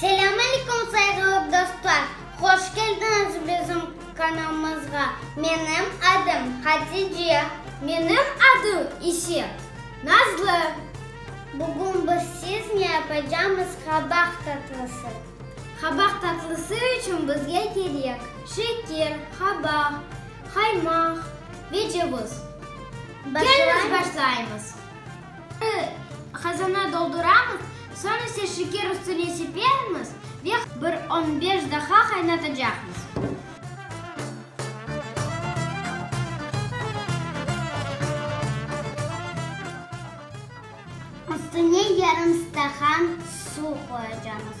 Selâm aleykum sayğılı dostlar, hoş keldiñiz bizim kanalımızğa. Menim adım Hatice. Menim adım ise Nazlı. Bugün biz siznâ yapacamız qabaq tatlısı. Qabaq tatlısı içün bizge kerek, şeker, qabaq, qaymaq ve cevız. Keliñiz başlaymız. Birinci, qazana dolduramız, soñ ise şeker üstüne sepermiz ve bir on beş daha qaynatacaqmız. Üstüne yarım stakan suv qoyacamız.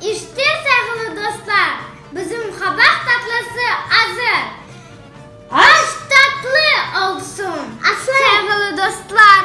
İşte, sayğılı dostlar, bizim qabaq tatlısı azır. Aş tatlı olsun! Sayğılı dostlar!